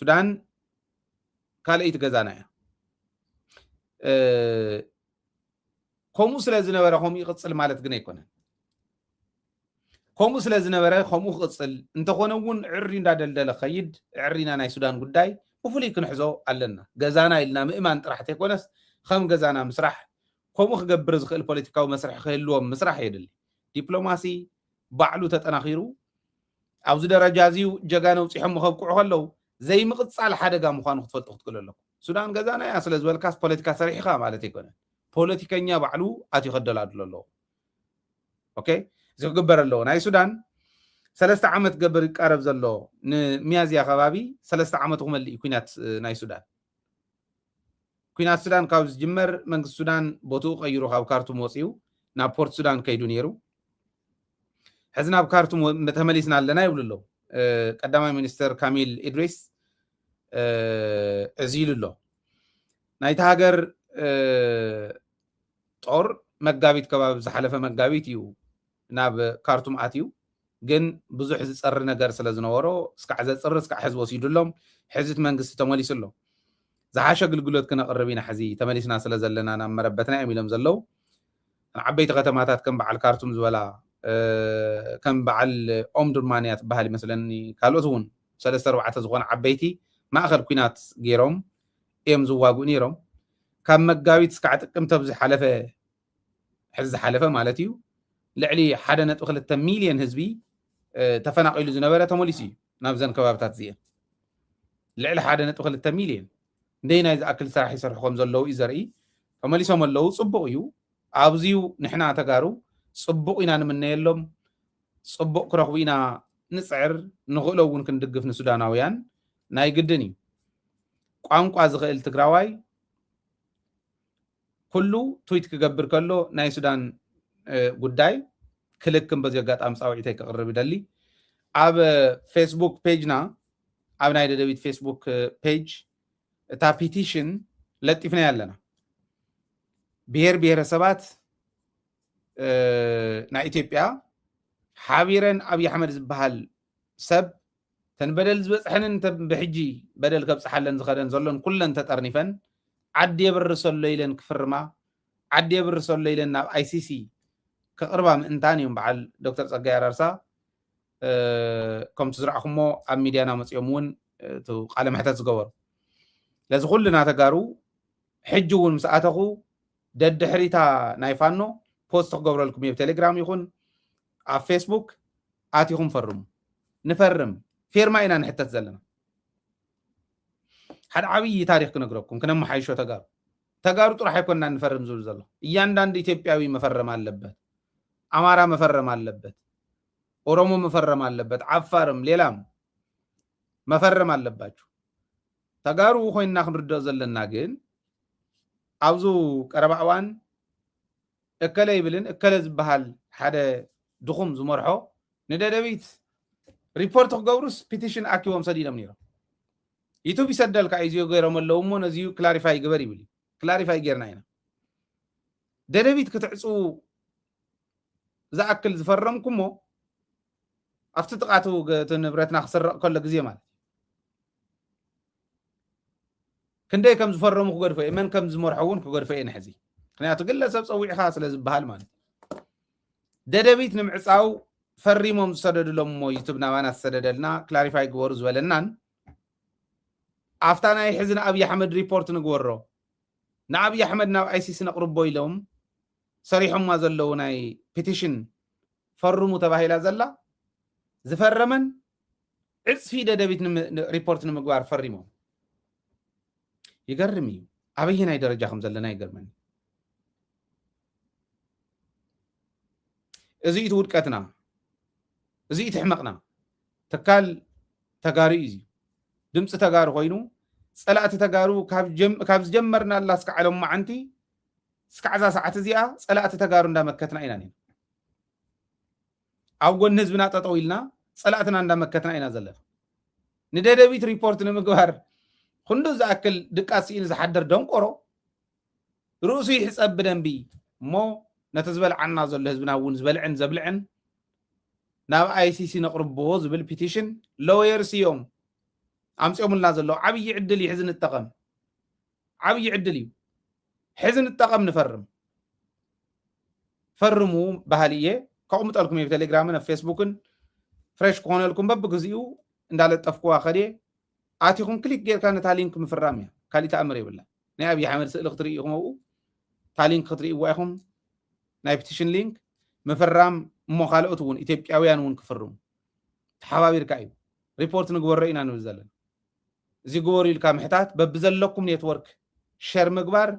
ሱዳን ካልኣይቲ ገዛና እያ። ከምኡ ስለ ዝነበረ ከምኡ ይቕፅል ማለት ግን ኣይኮነን። ከምኡ ስለ ዝነበረ ከምኡ ክቕፅል እንተኾነ እውን ዕሪ እንዳደልደለ ከይድ ዕሪና ናይ ሱዳን ጉዳይ ብፍሉይ ክንሕዞ ኣለና። ገዛና ኢልና ምእማን ጥራሕ ተይኮነስ ከም ገዛና ምስራሕ ከምኡ ክገብር ዝኽእል ፖለቲካዊ መስርሒ ክህልዎም ምስራሕ የድሊ። ዲፕሎማሲ ባዕሉ ተጠናኺሩ ኣብዚ ደረጃ እዚዩ ጀጋኑ ኣብጺሖሞ ከብቅዑ ከለዉ ዘይምቕጻል ሓደጋ ምዃኑ ክትፈልጡ ክትክእሉ ኣለኩም። ሱዳን ገዛና እያ ስለ ዝበልካስ ፖለቲካ ሰሪሕ ኢኻ ማለት ኣይኮነን። ፖለቲከኛ ባዕሉ ኣትዩ ከደላድሎ ኣለዎ። ኦኬ እዚ ክግበር ኣለዎ። ናይ ሱዳን ሰለስተ ዓመት ክገብር ይቃረብ ዘሎ ንሚያዝያ ከባቢ ሰለስተ ዓመቱ ክመልእ እዩ ኩናት ናይ ሱዳን። ኲናት ሱዳን ካብ ዝጅመር መንግስቲ ሱዳን ቦትኡ ቀይሩ ካብ ካርቱም ወጺኡ ናብ ፖርት ሱዳን ከይዱ ነይሩ። ሕዚ ናብ ካርቱም ተመሊስና ኣለና ይብሉ ኣለዉ። ቀዳማይ ሚኒስትር ካሚል ኢድሪስ እዚ ኢሉ ኣሎ ናይቲ ሃገር ጦር መጋቢት ከባቢ ዝሓለፈ መጋቢት እዩ ናብ ካርቱም ኣትዩ ግን ብዙሕ ዝፀሪ ነገር ስለ ዝነበሮ እስካዕ ዘፅሪ እስካዕ ሕዚ ወሲዱሎም ሕዚ እቲ መንግስቲ ተመሊሱ ኣሎ ዝሓሸ ኣግልግሎት ክነቕርብ ኢና ሕዚ ተመሊስና ስለ ዘለና ናብ መረበትና እዮም ኢሎም ዘለው ዓበይቲ ከተማታት ከም በዓል ካርቱም ዝበላ ከም በዓል ኦምዱርማን እያ ትበሃል ይመስለኒ ካልኦት እውን ሰለስተ ኣርባዕተ ዝኾነ ዓበይቲ ማእኸል ኩናት ገይሮም እዮም ዝዋግኡ ነይሮም ካብ መጋቢት እስካዕ ጥቅምቲ ኣብ ዝሓለፈ ሕዚ ዝሓለፈ ማለት እዩ ልዕሊ ሓደ ነጥቢ ክልተ ሚልዮን ህዝቢ ተፈናቂሉ ዝነበረ ተመሊሱ እዩ ናብዘን ከባብታት እዚአን ልዕሊ ሓደ ነጥቢ ክልተ ሚልዮን እንደይ ናይ ዝኣክል ስራሕ ይሰርሑ ከም ዘለዉ እዩ ዘርኢ ተመሊሶም ኣለዉ ፅቡቅ እዩ ኣብዚዩ ንሕና ተጋሩ ፅቡቅ ኢና ንምነየሎም ፅቡቅ ክረኽቡ ኢና ንፅዕር ንኽእሎ እውን ክንድግፍ ንሱዳናውያን ናይ ግድን እዩ ቋንቋ ዝኽእል ትግራዋይ ኩሉ ትዊት ክገብር ከሎ ናይ ሱዳን ጉዳይ ክልክም በዚ ኣጋጣሚ ፃውዒተይ ክቕርብ ይደሊ ኣብ ፌስቡክ ፔጅና ኣብ ናይ ደደቢት ፌስቡክ ፔጅ እታ ፒቲሽን ለጢፍናያ ኣለና ብሄር ብሄረሰባት ናይ ኢትዮጵያ ሓቢረን ኣብዪ ኣሕመድ ዝበሃል ሰብ እተን በደል ዝበጽሐንን እተን ብሕጂ በደል ከብጽሓለን ዝኸደን ዘሎን ኩለን ተጠርኒፈን ዓዲ የብርሰሎ ኢለን ክፍርማ ዓዲ የብርሰሎ ኢለን ናብ ኣይሲሲ ከቕርባ ምእንታን እዮም በዓል ዶክተር ፀጋይ ኣራርሳ ከምቲ ዝረእኹሞ ኣብ ሚድያና መፅኦም እውን ቃለ መሕተት ዝገበሩ ለዚ ኩልና ተጋሩ ሕጂ እውን ምስ ኣተኹ ደድሕሪታ ናይ ፋኖ ፖስት ክገብረልኩም እየ ቴሌግራም ይኹን ኣብ ፌስቡክ ኣቲኹም ፈርሙ ንፈርም ፌርማ ኢና ንሕተት ዘለና ሓደ ዓብዪ ታሪክ ክነግረኩም ክነመሓይሾ ተጋሩ ተጋሩ ጥራሕ ኣይኮና ንፈርም ዝብል ዘሎ እያንዳንዱ ኢትዮጵያዊ መፈረም ኣለበት ኣማራ መፈረም ኣለበት ኦሮሞ መፈረም ኣለበት ዓፋርም ሌላም መፈረም ኣለባችሁ ተጋሩ ኮይና ክንርድኦ ዘለና ግን ኣብዚ ቀረባ እዋን እከለ ይብልን እከለ ዝበሃል ሓደ ድኹም ዝመርሖ ንደደቢት ሪፖርት ክገብሩስ ፒቲሽን ኣኪቦም ሰዲዶም ነይሮም ዩቱብ ይሰደልካ እዩ እዚዮ ገይሮም ኣለዉ እሞ ነዚዩ ክላሪፋይ ግበር ይብል እዩ ክላሪፋይ ጌርና ኢና ደደቢት ክትዕፅዉ ዝኣክል ዝፈረምኩሞ ኣብቲ ጥቃ እቲ ንብረትና ክስረቕ ከሎ ግዜ ማለት እዩ ክንደይ ከም ዝፈረሙ ክገድፎ እየ መን ከም ዝመርሖ እውን ክገድፎ እየ ንሕዚ ምክንያቱ ግለሰብ ፀዊዕኻ ስለ ዝበሃል ማለት እዩ ደደቢት ንምዕፃው ፈሪሞም ዝሰደድሎም እሞ ዩቱብ ናባና ዝሰደደልና ክላሪፋይ ግበሩ ዝበለናን ኣብታ ናይ ሕዚ ንኣብዪ ኣሕመድ ሪፖርት ንግበሮ ንኣብዪ ኣሕመድ ናብ ኣይሲሲ ነቕርቦ ኢሎም ሰሪሖማ ዘለዉ ናይ ፒቲሽን ፈርሙ ተባሂላ ዘላ ዝፈረመን ዕፅፊ ደደቢት ሪፖርት ንምግባር ፈሪሞም ይገርም እዩ ኣበየናይ ደረጃ ከም ዘለና ይገርመኒ እዚ እቲ ውድቀትና እዚ እቲ ሕመቕና ትካል ተጋሩ እዩ ድምፂ ተጋሩ ኮይኑ ፀላእቲ ተጋሩ ካብ ዝጀመርናላ እስካዕ ሎም መዓንቲ እስካዕ እዛ ሰዓት እዚኣ ፀላእቲ ተጋሩ እንዳመከትና ኢና ኔና። ኣብ ጎኒ ህዝብና ጠጠው ኢልና ፀላእትና እንዳመከትና ኢና ዘለና። ንደደቢት ሪፖርት ንምግባር ክንዱ ዝኣክል ድቃስ ስኢኑ ዝሓደር ደንቆሮ ርእሱ ይሕፀብ ብደንቢ እሞ ነቲ ዝበልዓና ዘሎ ህዝብና እውን ዝበልዕን ዘብልዕን ናብ ኣይሲሲ ነቕርቦ ዝብል ፒቲሽን ሎየርስ እዮም ኣምፅኦምልና ዘለዉ ዓብዪ ዕድል ይሕዚ ንጠቐም ዓብይ ዕድል እዩ ሕዚ ንጠቐም ንፈርም ፈርሙ ባህሊ እየ ከቕምጠልኩም እየ ብቴሌግራምን ኣብ ፌስቡክን ፍሬሽ ክኾነልኩም በብግዚኡ እንዳለጠፍኩዋ ከድየ ኣቲኹም ክሊክ ጌርካ ነታ ሊንክ ምፍራም እያ ካሊእ ተኣምር የብላ ናይ ኣብዪ ሓመድ ስእሊ ክትርኢ ኢኹም ኣብኡ እታ ሊንክ ክትርእይዋ ኢኹም ናይ ፕቲሽን ሊንክ ምፍራም እሞ ካልኦት እውን ኢትዮጵያውያን እውን ክፍርሙ ተሓባቢርካ እዩ ሪፖርት ንግበሮ ኢና ንብል ዘለና እዚ ግበሩ ኢልካ ምሕታት በብዘለኩም ኔትወርክ ሸር ምግባር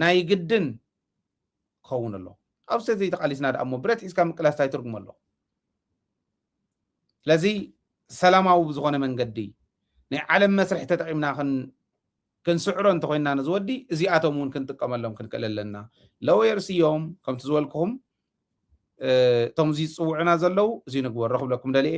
ናይ ግድን ክኸውን ኣለዎ ኣብ ሰተይ ተቃሊስና ደኣ እሞ ብረት ሒዝካ ምቅላስ እንታይ ትርጉም ኣለዎ ስለዚ ሰላማዊ ብዝኾነ መንገዲ ናይ ዓለም መስርሒ ተጠቂምና ክንስዕሮ እንተኮይንና ነዚ ወዲ እዚኣቶም እውን ክንጥቀመሎም ክንክእል ኣለና ለወየርስ እዮም ከምቲ ዝበልኩኹም እቶም እዚ ዝፅውዑና ዘለው እዚ ንግበር ረክብለኩም ደልየ